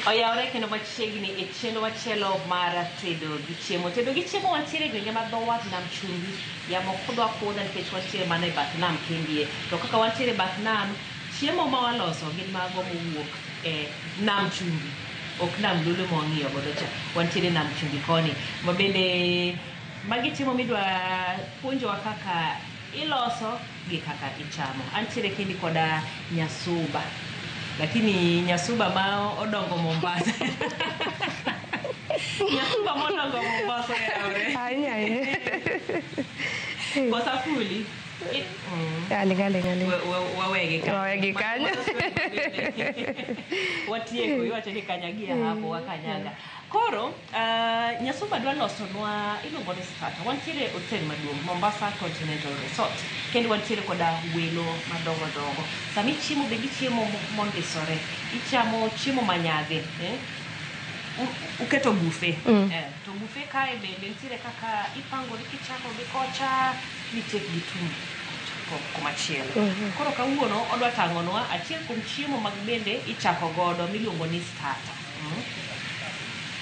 oyawore kendo machiegni e chenro machielo mar tedo gi chiemo tedo gi chiemo wantiere e gwenge ma dho wath nam chumbi yamo kudwa kudha nikech wantiere mana e bath nam kendie to kaka wantiere e bath nam chiemo ma waloso gin mago mowuok e nam chumbi ok nam lulu ma wang'iyo godo cha wantiere nam chumbi koni ma bende magi chiemo midwa puonjowa kaka iloso gi kaka ichamo antiere kendi koda nyasuba lakini nyasuba ma odongo mombasa nyasuba modongo mombasa yawore Ahinya ahinya. kosafuli Aling aling aling. We- we- wawegi kanyo. Wawegi kanyo. watieko iwacho ni kanyagia hapo wakanyaga koro uh, nyasumba dwa losonwa iluongo ni strata wantiere hotel maduong' mombasa continental resort kendo wantiere koda welo madongo dongo sama ichiemo bende ichiemo mo- mondisore ichamo chiemo manyadhi eh? U- uketo bufe Mm. eh, to bufe kae bende nitiere kaka ipangori kichako gi kocha ni tek gi tum ko- komachielo koro kawuono odwa tang'onwa achiel kuom chiemo mag bende ichako godo miluongo ni starter mm.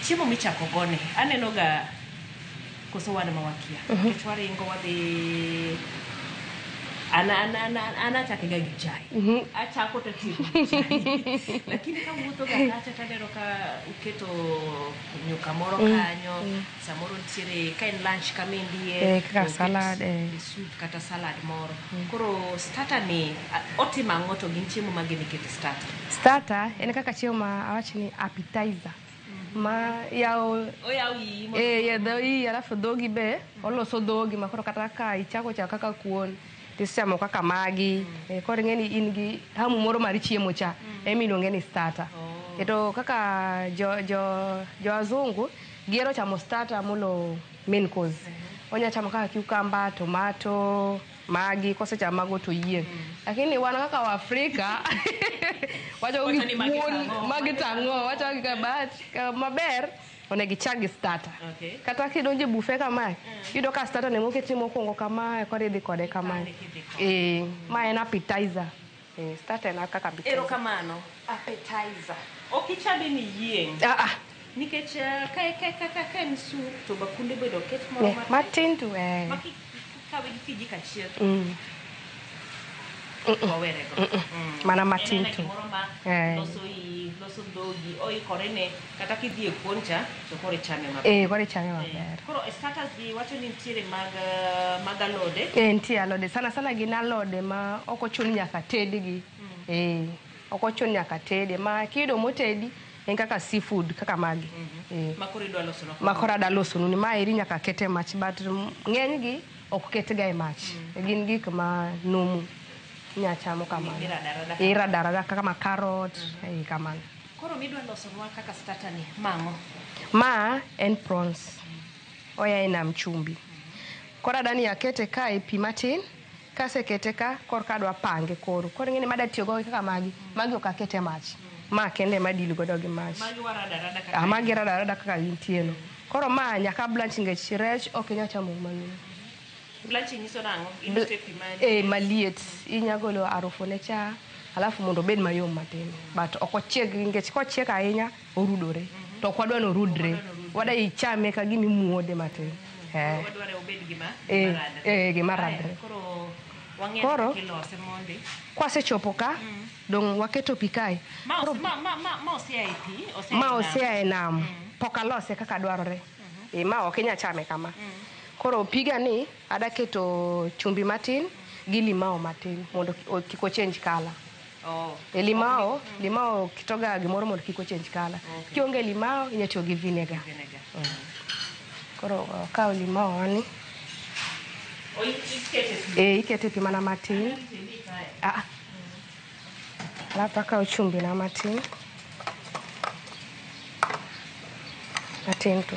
chiemo michako goni aneno ga koso wan ma wakia nikech waringo wadhi ana ana ana ana achake ga gi chai achako to atieko gi chai lakini kawuotho ga kacha taneno ka uketo nyuka moro kanyo samoro nitiere ka en lunch kama indie Eh, kaka to oket salad, eh. e soup kata salad moro koro starter ni a- otimo ang'o to gin chiemo mage mikete starter starter en kaka chiemo ma awach ni appetizer ma yawo oyaw iyi mondo- Eh, ya dho iyi alafu dhogi be oloso dhogi makoro kata ka ichako chako kaka kuon tichamo kaka magi eh, koro ing'e ni in gi hamu moro mar chiemo cha emiluonge ni starter Oh. to kaka jo, jo, jo wazungu Gihero chamo starter molo main course. Onya chamo kaka cucumber, tomato, magi kosechamo mago to yieng. Lakini wan kaka Waafrika wacho Wacho ni magi gikuon tang'o. magi tang'o wacho kaka but ka maber onego ichak gi starter. Okay. Kata kidonjo e bufe kamae, yudo ka starter ne moketi mokwongo kamae koro idhi kode kamae. Ikane kidhi kode. Eh, ma en appetizer. Eh, start e laka ka bit. Erokamano appetizer. Ok ichame ni yieng'. Ah ah. Nikech eh, ka ka ka ka ka en soup to bakunde bedo ket moro Ne, matin. matin tu eh. Ma ki- kawe gi kijiko achiel to Mm. wawere go. Mm. Mana matin Inene tu. gimoro ma Eh. loso i- loso dhogi oikore ne Kata kidhi e kuon cha to koro ichame maber. Eh, koro ichame maber. Koro e starters gi wacho ni nitiere mag eh, mag alode. Eh, nitie alode sana sana gin alode ma ok ochun nyaka tedgi. Eh, ok ochun nyaka tede ma kiyudo motedi en kaka seafood kaka magi. Eh, Ma koro idwa loso no. ma koro ada losonu ni ma eri nyaka kete mach but m- ng'enygi ok ketga e mach. Gin gik ma numu inya chamo kamano. Irada rada. Irada rada kaka ma carrot, eh, kamano. Koro midwa losonwa kaka starter ni mang'o? Ma en prawns. Oya e nam chumbi. Koro adani akete ka e pi matin, kasekete ka korka adwa pange koro. Koro ing'eni ma adatiyo go kaka magi, magi ok akete e mach. Ma kende ema adil godo gi mach. Magi warada rada kaka Ah, magi rada rada kaka gintieno. Koro ma nyaka blanch nikech rech ok inya chamo gi mangima. Blachi nyiso nang'o? Iluto e pi maliet. Eh, maliet. Inya golo harufu ne cha, alafu mondo obed mayom matin. But ok ochieg nikech kochiek ahinya orudore. To ok wadwa ni orudre. Wadwa ichame ka gima imuode matin. Eh. Wadware obed gima Eh, gima radre. eh, gima Aya, radre. Koro wang'eyo Koro- kaka ilose mondi. Kwasechopo ka, dong' waketo pi kae. Ma ose- ma- ma- ma- ma osea e pi, osea e Ma nam. osea e nam. Pok alose kaka dwarore. e, ma ok inya chame kama koro piga ni adaketo chumbi matin gi limao matin mondo ki- o- kik ochange kala Oh. e limao limao kitoga gimoro mondo kik ochange kala Okay. kionge limao inya tiyo gi vinegar Vinegar. koro okawo limao wani Oh, ikete e ikete pi mana matin Ah, Alafu akawo chumbi na matin matin tu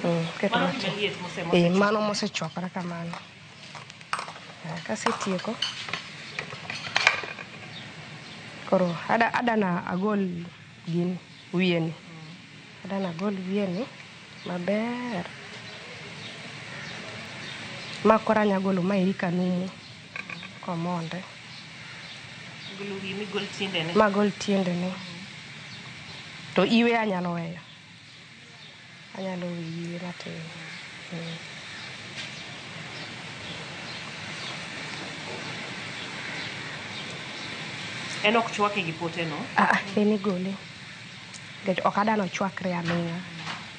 Mm, keto Mano matin. jaliet mosemo. Eh, mano mosechwakore kamano Ah, kasetieko koro ada- adana agol gini wiyeni adana agol wiyeni maber ma koro anya golo maeri kanumu Omonde. Magol tiendene. To iwe anyalo weyo. Anyalo weyi iwe matin. En ok chwake gi poteno? Aa, en igole. Nikech ok adwar ni ochwakre aming'a.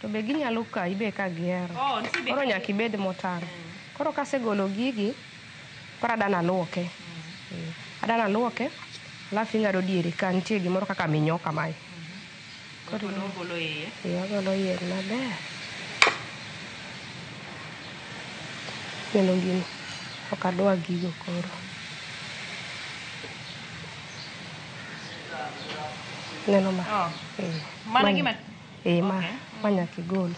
to be ginyalo kayi be ka gihero Oh, nitie be koro ka- nyaka ibed motang' koro kasegolo gigi koro adana aluoke Eh, adana aluoke alafu ing'ado diere ka nitie gimoro kaka minyo kamae Koro Ogolo- ogolo iye. Ee, agolo iye maber neno gini ok adwa gigo koro neno ma Oh, Ee. mano Mani. gima Ee, ma, ma nyaka igol.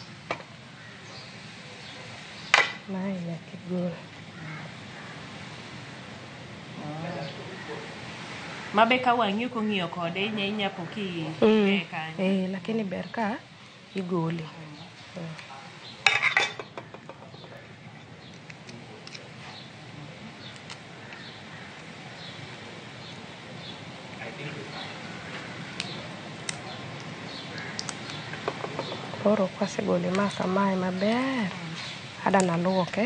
Mae nyaka igol. Ma be ka wang'i ok ong'iyo kode inya inya po ki Mm. eh, kanyo. Eh, lakini ber ka igole. Koro kwasegole ma samaye maber, ada naluoke.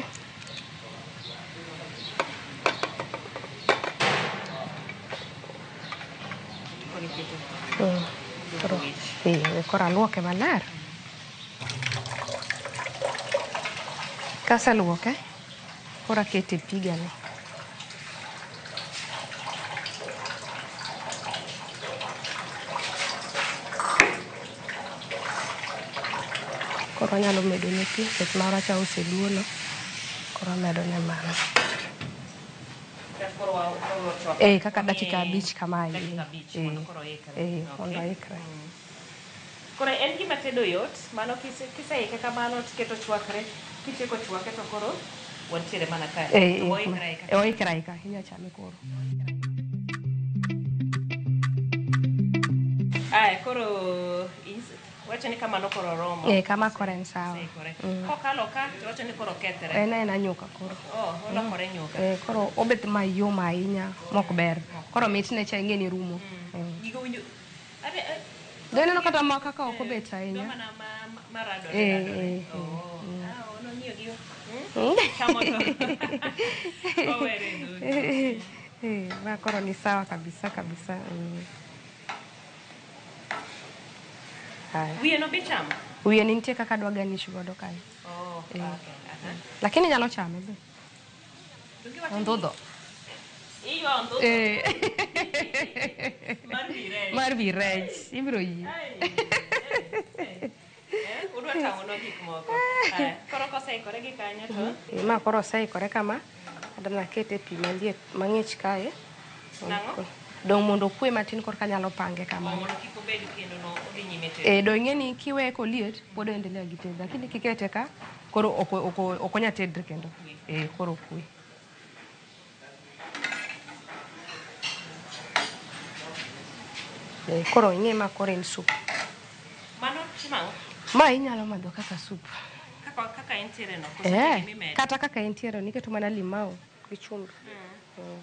Mm, Koro, eh, koro aluoke maler. Kaseluoke, koro akete e pigani. Koro anyalo medone pi nikech mara cha oseduono, koro amedone mano. Eh, kaka dakika abich kamae. Eh, eh, mondo oikre. Koro en gima tedo yot mano kiseike kamano tiketo ochwakre, kitieko chwake to koro wantiere mana kae. Eh, To eh, oikre aika. eh, oikre aika, inya chame koro. Aya, koro is- wacho ni kamano koro oromo. Eh, kama koro en sawa. Oseikore. Mm. Kokalo ka to wacho ni koro okethre. En en anyuka koro. Oh, olokore nyuka. Eh, koro obet mayom ahinya mok ber. Koro mitne cha ing'e ni rumo. Eh. Gigo winjo Dine no kata ma kaka ok obet ahinya. Eh, eh, eh. Eh, eh, ma koro ni sawa kabisa kabisa. Mm. Haya. Wiye no be chamo? Wiye ni nitie kaka dwa garnish godo kanyo. Oh, Eh. okay. Aha. Lakini nyalo chame be. Ondhudho. Iyo ondhudho. Eh. Mar virech. Mar virech. Ibiro yie. Udwa tang'onwa gik moko. Aya, Koro koseikore gi kanyo to Eh, Ma koro oseikore kama. Adwa naket e pi maliet mang'ich kae. Nang'o? Dong' mondo okwe matin korka anyalo pange kamano. mondo kik obed kendo no odhi nyime tedo. Eh, do ing'e ni kiweye koliet pod oendelea gi tedo lakini kikete ka Koro oko oko okonya tedre kendo. Eh koro okwe. Eh koro ing'e ma koro en sup. Mano chiemo ang'o? Ma inyalo madho kaka sup. Kaka kaka entiere no. koso Eh, gimimedo? kata kaka entiere niketo mana limau gi chumbi. Mm.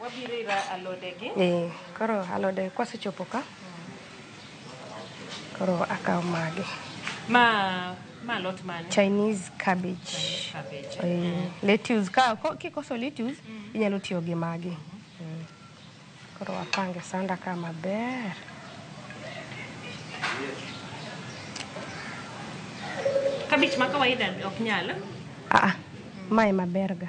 Wabiro ira alode gi. Eh, koro alode kwasechopo ka. Koro akawo magi. Ma ma lot mane? Chinese cabbage. Cabbage. Eh, lettuce ka ko- kikoso lettuce inyalo tiyo gi magi. Mm. Koro wapange sanda ka maber. Kabich ma kawaida ok nyal. Ah, ah, mae maberga.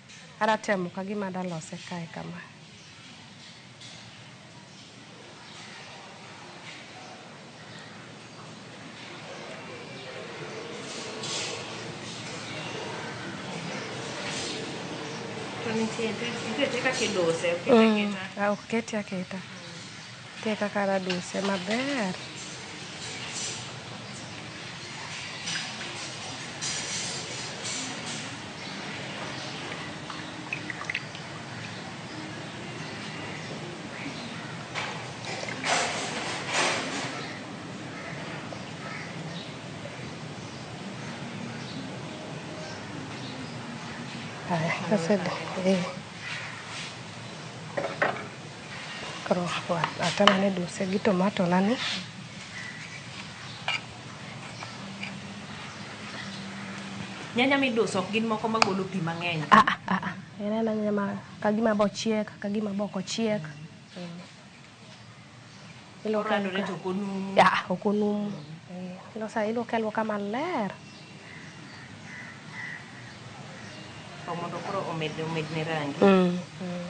Ara temo kagima ada lose kae kama. To nitie nitie kaka idose, okete Mm, aketa. ah, ok keti aketa. Nitie kaka raduse maber. Haya, kaseda. Eh. Roho atana ne duse gi tomato na ni. Nyanya miduso ok gin moko magolo pi mang'eny. Ah, ah, ah, ah. En en nyanya ma kagima bo chiek, kagima bok ochiek. Mm. Iluoke Oradore aluoka- to ok onumu. Ya, ok onumu. Eh, Ilosa iluoke aluoka maler. Mondo koro omed omedne rangi. Mm. Mm.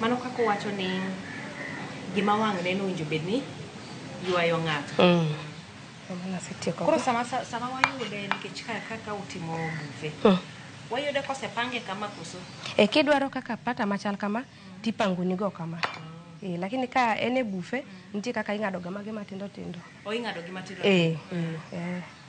mano kaka owacho ni gima wang' neno owinjo bed ni ywayo ng'ato mm. koro sama, sama wayude nikech kaka utimo bufe mm. wayude kosepange kama koso e eh, kidwaro kaka pata machal kama mm. tipangonigo kama mm. Eh, lakini ka en e bufe nitie kaka ing'ado ga mage matindo tindo. O ing'ado gi matindo. Eh. Mm. Eh.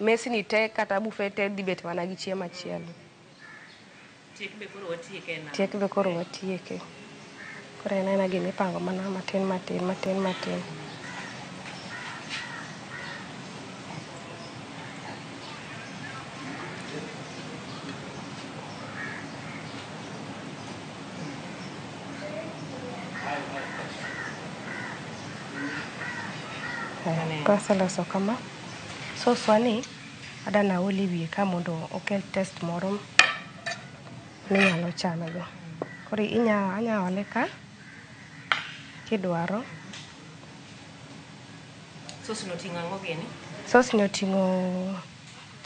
Mesni te kata bufe te dhi bet mana gi chiemo achiel. Tiek be koro watieke na. Tiek be koro watieke. Koro en aena gima ipango mana matin matin matin matin. Kaseloso kama. Soswa ni adani aol e wiye ka mondo okel taste moro minyalo chame go. Koro inya anya ole ka kidwaro. Sos no ting'o ang'o gini? Sos ni oting'o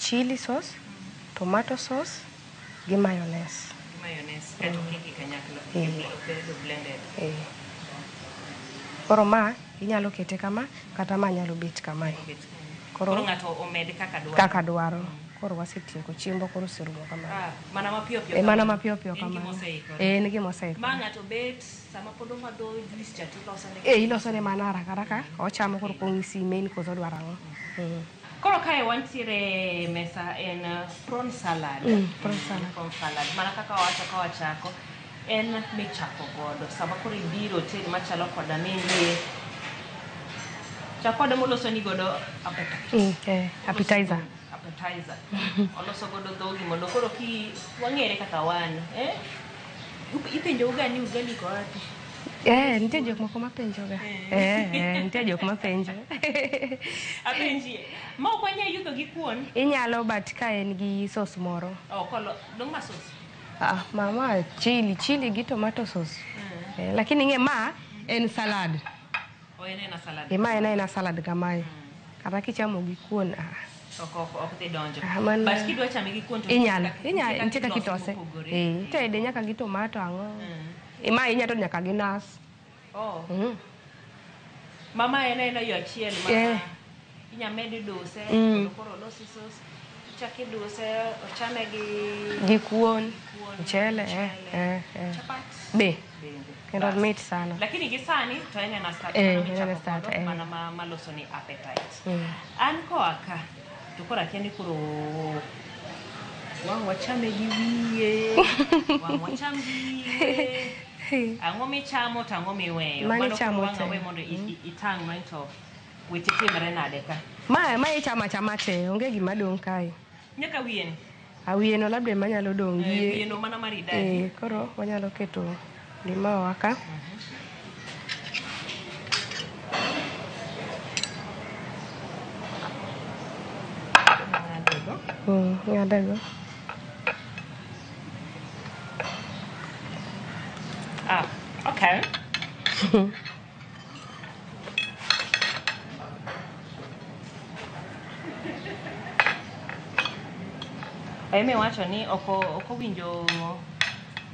chili sauce, tomato sauce, gi mayonnaise. Gi mayonnaise kaeto mm. kiki kanyakla. Eh. Oketo blended. Eh. Koro ma inyalo kete kama kata ma nyalo bet kama. Koro ng'ato omed kaka dwaro. Kaka dwaro. Mm. Koro wasetieko chiembo koro serumo kama. Ah, mana mapiyo piyo. Eh, mana mapiyo piyo kama. Eh, nigi mosaiko. Ma ng'ato bet sama pod omadho juice cha tiloso ne. Eh, iloso ne mana haraka haraka. Ochamo koro kong'isi main koso dwaro ang'o. Mm. Koro kae wantiere e mesa en uh, prawn salad. Mm, prawn salad. Prawn salad. Mana kaka wawacho ka wachako en michako godo. Sama koro ibiro oteli machalo koda mende chakoda moloso ni godo appetite. Mm, eh, appetizer. Appetizer. Oloso godo dhogi mondo koro ki wang'ere kaka wan. Eh? Ipenjouga ni ugali iko wapi? Eh, nitie jok moko mapenjoga. Eh, eh, nitie jok mapenjo. Apenjie. Ma ok wanyal yudo gi kuon. Inyalo but ka en gi sos moro. Oh, kolo, dong ma sos. Ah, mama chili, chili gi tomato sauce. Eh, lakini ng'e ma en salad. Oh, en ena salad. E ma en aena salad kamae. Kata kichamo gi kuon. Ah. Ok, ok, ok dhi donjo. Ah, mano- But kidwa chame gi kuon to Inyalo, nitie kaka- inyalo, nitie kaka ilose itose. mopogore. Eh, itede nyaka gi tomato ang'o. Mm. Ima ahinya to nyaka gi nas. Oh. Mm. Mama en en yo achiel ma yeah. inya medi duse mm. koro losi sos chaki duse ochame gi gi kuon mchele eh eh, eh. chapat be kendo mit sana lakini gi sani to en en start eh, en en start eh. mana ma maloso ni appetite mm. an ko aka To koro akia ni koro wang' wachame gi wiye, wang' wacham gi wiye. Ang'o michamo to ang'o miweyo? Mano Mano chamo koro wang' te. awe mondo i- i- itang' no to weche timre nade ka. Ma ma ichama chama te, onge gima dong' kae. Nyaka wiye ni. Awiye no labda ema nyalo dong' gi eh, wiye no mana maridadi. Eh, koro wanyalo keto limao wa ka. Mm, ng'adego. Ah, okay. Emi wacho ni ok o- ok owinjo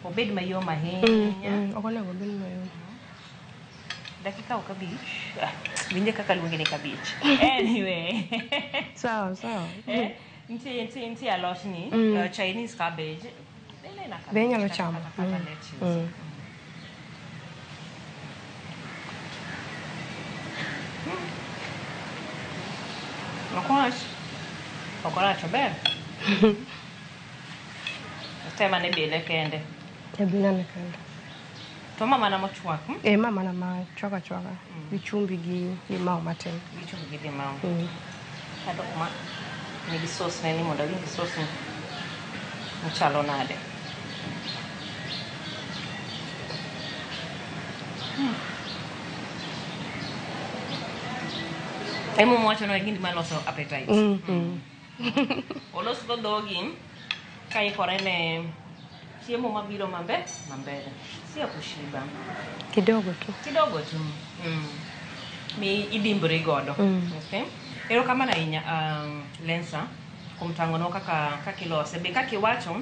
obed mayom ahinya. ok onego obed mayom Dakika o kabich. Ah, Winje kaka luonge ni kabich. Anyway. sawa sawa Eh, Nitie nitie nitie alot ni Mm. uh, Chinese cabbage. Ile ina cabbage. Be inyalo kata- chamo. kata- kata Mm. lettuce. Mm. Okwach. Okwach ober. Tema ne bile kende. Ebinane kanda. To ma mana mochwak. Hmm? Eh, ma mana ma chwaka chwaka mm. gi chumbi gi limau matin. Gi chumbi gi limau. Mm. Kata kuma ni gi sauce ne ni mondo awinj gi sauce ni mchalo nade. Hmm. Emo mwacho no e gindi maloso appetite. Mm. Mm. olosgo dhogi kaikore ne chiemo mabiro mambe mambele sio kushiba kidogo tu kidogo tu mm. mi idimbri godo Mm. okay? erokamano ahinya um, lensa kuom tang'onwa kaka kaka ilose be kaka iwacho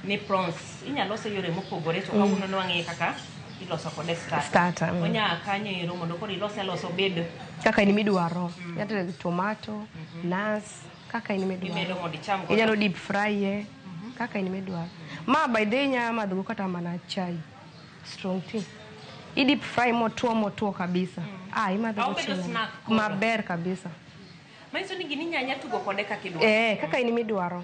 ni prawns inyalo lose yore mopogore to kawuono ne wang'eyo kaka iloso kode starter. Starter, mm. Onya kanyo ero mondo koro ilose alosa obed kaka in midwaro nyaka mm. tomato nas kaka in imedo midwaro mondo icham godo. inyalo deep fry ye kaka in midwaro ma by the way inyalo madhogo kata mana chai strong tea i deep fry motwo motwo kabisa ah imadhogo Obedo chieng' snack koro. maber kabisa Manyiso ni gini inya nya tugo kode kaka idwaro. eh kaka in midwaro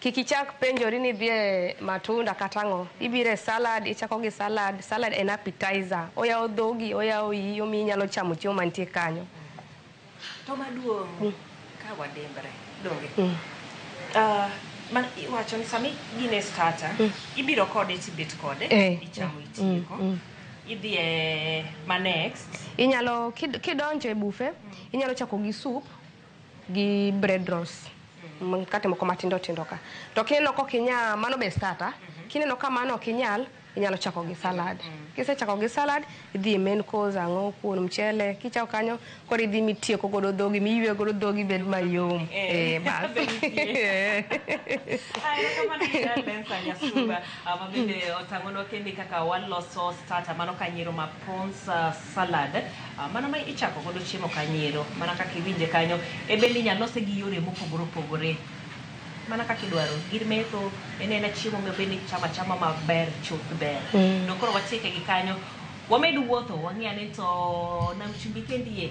Kik ichak penjori ni idhi e matunda kata ang'o. Ibiro e salad, ichako gi salad. Salad en appetizer. Oyawo dhogi, oyawo iyi, omiyo inyalo chamo chiemo mantie kanyo. To maduong' ka wadimbre, donge? Ah, ma- iwacho ni sama gin e starter, ibiro kode tibet kode, Eh, ichamo eh, itieko. mm, mm. Idhi e ma next. Inyalo, kid- kidonjo e bufe, inyalo chako gi soup, gi bread rolls mkate moko matindo tindo ka to kineno kok inya mano be starter kineno ka mano ok inyal inyalo chako gi salad kisechako gi salad idhi e main course ang'o kuon mchele kichako kanyo koro idhi mitieko godo dhogi miywe godo dhogi bed mayom Eh, eh bas mabende otang'onwa kende kaka waloso starter mano ka nyiero ma prawns uh, salad ah, mano ma ichako godo chiemo kanyiero mana kaka iwinje kanyo e bende inyalo lose gi yore mopogore opogore mana kaka idwaro gir metho en en chiemo ma bende ichamo achama maber chuth ber Mm. no koro watieke gi kanyo wamed wuotho wang'e ane to nam chumbi kendie